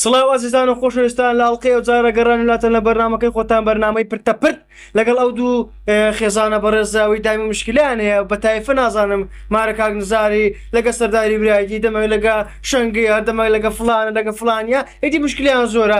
سڵاو ئازیزان و خۆشەویستان لە ئەڵلقەی و جارە گەڕان لاتەن لە بەرنمەکەی خۆتان بەرنمەی پرتە پرت لەگەڵ ئەو دوو خێزانە بەڕێزاوی دامی مشکلیان هەیە بە تایفە نازانم مارە کاک نزاری لەگە سەرداری برایدی دەمە لەگە شنگی هەردەمە لەگە فلانە لەگە فلانە ئیدی مشکلیان زۆرە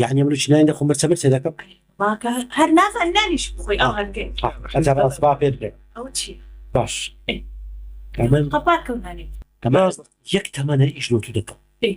یەعنی ئەمرۆ چی نانی دەخۆم مرچە مرچە دەکەم. باکە هەر نازانی نانیش بخۆی ئەو هەنگەی. ئەجا بەڕاستی سپا پێت بڵێم. ئەوە چیە. باش ئەی. قەپات کەو نانی. ئەمە یەک تەمەنە ئیش لۆ تو دەکەم. ئەی.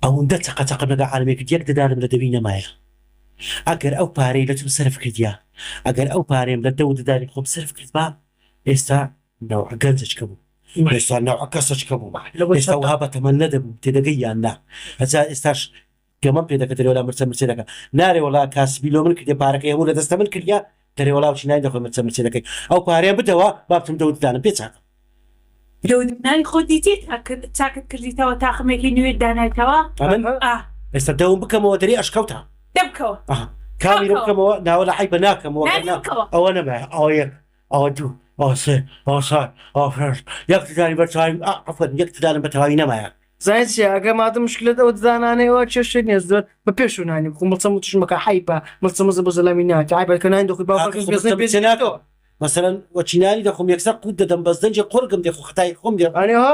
ئەوندە چەقە چەقەم لەگەڵ عالەمێ کرد یەک ددانم لە دەوی نەمایە ئەگەر ئەو پارەی لە تۆم سەرف کردیا ئەگەر ئەو پارەیم لە دەو ددانی خۆم سەرف کردبا ئێستا نەوعە گەنجەچکە بوو ئێستا نەوعە کەسەچکە بوو ئێستا وەها بە تەمەن نەدەبوو تێدەگەی یان نا ئەجا ئێستاش گەمەم پێ دەکە دەرێوەلا مرچە مرچێ دەکا نارێ وەڵا کاسبی لۆ من کردیە پارەکەی هەموو لە دەستە من کردیە دەرێ وەڵا وچی ناین دەخۆی مرچە مرچێ دەکەی ئەو پارەیە بدەوە با بچم دەوت دانم پێ چاکە. دەوت نانی خۆت دیتیت چاکت کردیتەوە تاقمێکی نوێت دانایتەوە ئەمن ئاه. ئێستا دەوم بکەمەوە دەرێ ئەشکەوتە. دەمکەوە ئاه کامیرە بکەمەوە ناوەلا عەیبە ناکەمەوە نانی بکەوە. ئەوە نەبایە ئەوە یەک ئەوە دوو، ئەوە سێ، ئەوە چوار، ئەوە پێنج، یەک ددانی بە تەواوی، ئا، عەفوەن، یەک ددانم بە تەواوی نەمایە. زانیت چیە، ئەگەر مادەم مشکلەت ئەو ددانانەیە ئەوا کێشەی نیە، زۆر بە پێشەوە نانی بخۆ، مڵچە مڵچیش مەکە، حەیفە، مڵچە مڵچ بۆ زەلامی ناکە، عەیبە کە نانی دەخۆی باوکت کاکە خۆ مڵچە مڵچێ ناکەم، مەسەلەن وەکی نانی دەخۆم یەکسەر قووت دەدەم بەس دەنگێ قۆرگم دێ خۆ خەتای خۆم لێ ئەنێ ها.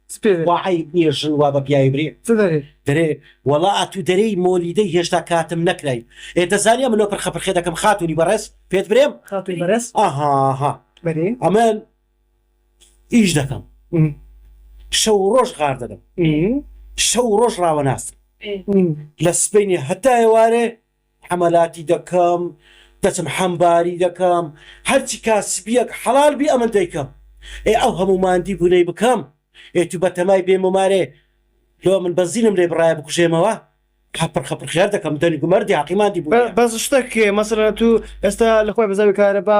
وا عەیب نیە ژن وا بە پیاوی برێ دەرێ وەڵا ئەتوو دەرێی مۆلیدەی هێشتا کاتم نەکرای ئێ دەزانی ئەمنۆ پرخە پرخێ دەکەم خاتونی بەڕێز پێت برێم ئەهاها ئەمن ئیش دەکەم شەو و ڕۆژ غار دەدەم شەو و ڕۆژ ڕاوەناستم لە سبەینێ هەتا ئێوارێ حەمەلاتی دەکەم دەچم حەمباری دەکەم هەرچی کاسبیەک حەڵال بی ئەمن دەیکەم ئێ ئەو هەموو ماندی بونەی بکەم ئێ تو بەتەمای بێ مۆمارێ لۆ من بەنزینم لێ بڕایە بکوژێمەوە هە پرخە پرخیار دەکەم دەنگ و مەردی هەقی ماندی بونیە. بەس شتەک مەسەلەن تو ئێستا لەخوای بەزاوی کارەبا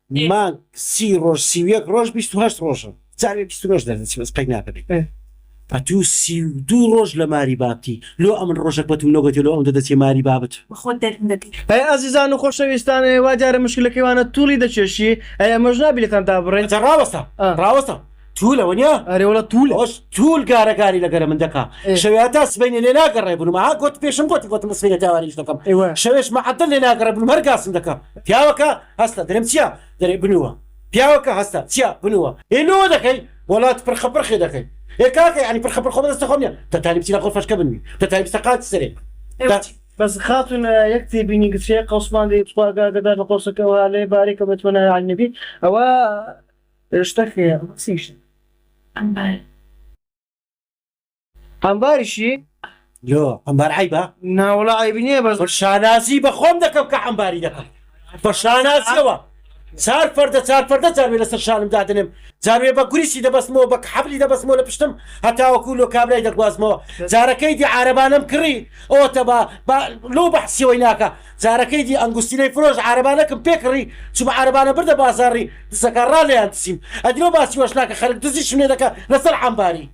مانگ سی ڕۆژ سی و یەک ڕۆژ بیست و هەشت ڕۆژە جارێ بیست و نۆش دەردەچێ بەس قەی ناکەنێ ئەتوو سی و دوو ڕۆژ لە ماری بابتی لۆ ئەمن ڕۆژەک بەتوو نەگۆتێ لۆ ئەوندە دەچێ ماری بابت. بەخۆت دەرم دەکەی. ئەی ئازیزان و خۆشەویستان ئەی وا دیارە مشکلەکەی وانە توڵی دەکێشی ئەی ئەمەش نا بیلێتان دابڕێین. جا ڕاوەستە ڕاوەستە توولە وەنیا. ئەرێ وەڵا توولە. ئەوەش توول گارە گاری لەگەرە من دەکا شەوێ هەتا سبەینێ لێ ناگەڕێ بنووم ها گۆت پێشم گۆتی گۆتم سبەینێ تاواری ئیش دەکەم شەوێش مەعەدەل لێ ناگەڕێ بنووم هەر گاسم دەکا پیاوەکە هەستە درم چیە درێ بنوە پیاوە کە هەستە چیە بنوە ئێ لۆوە دەکەی وەڵات پرخە پرخێ دەکەی ئێ کاکە یانی پرخە پرخۆ بەدەستە خۆم نیە تە تالی بچی لەقۆ فەشکە بنوی تە تالی بچتە قاچ سەرێ تە بەس خاتون یەک تێبینی گچکەیە قەوسمان دەی تخوا ئەگادەدار لە قۆسەکەوە لێ بارێ کە بێت وەنای عەلی نەبی ئەوە شتەکەیە ئەم بارە. عەمباریشی لۆ عەمبار عەیبە؟ نا وەڵا عەیب نییە بەس من شانازی بە خۆم دەکەم کە عەمباری دەکەم بە شانازیەوە چار پەردە چار پەردە جاروێ لەسەر شانم دادنێم جاروێ بە گوریسی دەبەستمەوە بە حەبلی دەبەستمەوە لە پشتم هەتاوەکو لۆ کابرای دەگوازمەوە جارەکەی دی عارەبانەم کڕی ئەوەتە بە لۆ بەحسیەوەی ناکە جارەکەی دی ئەنگوستیلەی فرۆش عارەبانەکەم پێکڕی چوو بە عارەبانە بردە بازاڕی دزەکە ڕالیان دزیم ئەدرۆ باسی وەش ناکە خەرک دزیشم لێ دەکە لەسەر عەمباری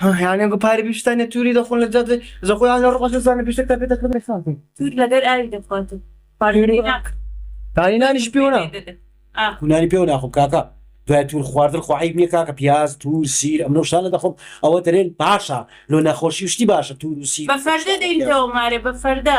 هەیانە گو پارە بیشتانە توری دەخۆن لە جادە زەخۆیان لە ڕۆژ زانە بیشتە تا پێ دەکەن خاتن تور لەگەر ئاوی دەخوات پارێری ناکە پارێ نانیش پێوە ناکە نانی پێوە ناخۆم کاکە دوای تور خواردن خۆحیب نییە کاکە پیاز تور سیر ئەم نەوشان لە دەخۆم ئەوە دەرێن باشە لۆ نەخۆشی شتی باشە تور و سیر بە فەردە دەینەوە مارێ بە فەردە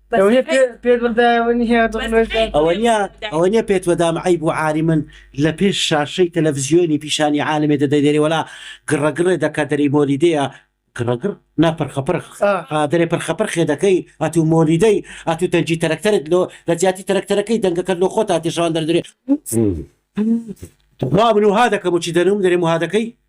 ئەوەنیە پێت وەدام عەیب و عاری من لە پێش شاشەی تەلەفزیۆنی پیشانی عالمێ دەدەی دەرێ وەلا گڕە گڕێ دەکە دەرێی مۆلیدەیە گڕە گڕ نا پرخە پرخ دەرێ پرخە پرخێ دەکەی ئەتوو مۆلیدەی ئەتوو دەنجی تەرەکتەرت لۆ لە جیاتی تەرەکتەرەکەی دەنگەکەت لۆ خۆتا تێشەوان دەردرێ وا من وها دەکەم و چی دەنووم دەرێ وها دەکەی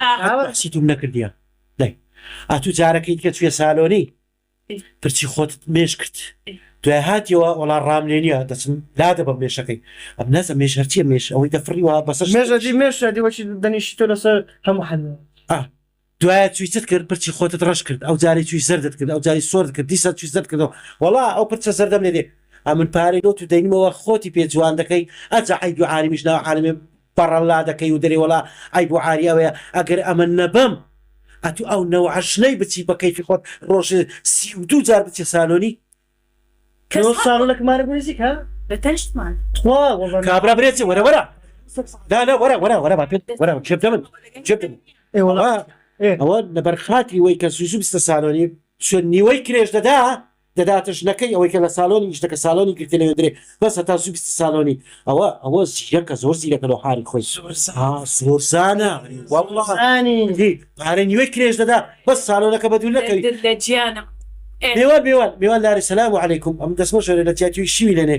ئاهات بەعسی توم نەکردیە دای ئەتو جارەکەی دیکە چویە سالۆنی پرچی خۆتت مێش کرد دوای هاتیەوە وەڵا ڕام لێنیە دەچم لادەبەم مێشەکەی ئەم نازم مێش هەرچیە مێش ئەوەی دەفڕی وە بەسەر مێش ئەدی مێش ئەدی وەکی دەنیشی تۆ لەسەر هەموو حەلوە. ئا دوایە چوی چت کرد پرچی خۆتت ڕەش کرد ئەو جارەی چوی زەردت کرد ئەو جاری سۆرت کرد دیسان چوی زەرد کردەوە وەڵا ئەو پرچە زەردەم لێ دێ ئەمن پارەی لۆ تو دەینمەوە خۆتی پێ جوان دەکەی ئەجە عەیبی عالمیش ناو عالمێ بەڕەڵلا دەکەی و دەرێ وەڵا عەیب و عاری ئەوەیە ئەگەر ئەمە نەبەم ئەتوو ئەو نەوعە ژنەی بچی بە کەیفی خۆت ڕۆژێ سی و دوو جار بچی سالۆنی کەس حەق سالۆنەک مارک میوزیک ها بە تەنشتمان تخوا وەڵا کابرا برێ چێ وەرە وەرە نا نا وەرە وەرە وەرە با پێت وەرە جێ بدە من جێ بدە من ئێ وەڵا ئەوە لەبەر خاتری وەی کە زوو زوو بچتە سالۆنی چۆن نیوەی کرێش دەدا دەداتە ژنەکەی ئەوەی کە لە سالۆنی نیشتە کە سالۆنی گرتە لەوێ درێ بەس هەتا زوو بیستی سالۆنی ئەوە ئەوە زیرەکە زۆر زیرەکە لەو حالی خۆی ها زۆرزانە واللە زانی دی پارەی نیوەی کرێش دەدا بەس سالۆنەکە بە دوور نەکەوی دل لە جیانم ئێ. میوان میوان میوان لارێ سلام علیکم ئەم دەسمە شۆرێ لە تیاتیوی شیوی لەنێ.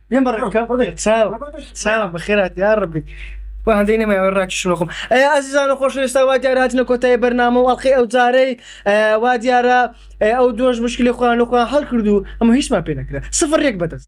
یە بە ڕێکە چاو چاو بەخێرات یا ڕبی بە هەندەی نەمایەوە ڕاکی شنۆخم ئەی ئازیزانە خۆش ئێستا وا دیارە هاتنە کۆتای بەرنامە و ئەڵقی ئەو جارەی وا دیارە ئەو دۆش مشکلی خۆیان لەخۆیان هەڵکردو ئەمە هیچمان پێ نەکرێت سفر ڕێک بەدەست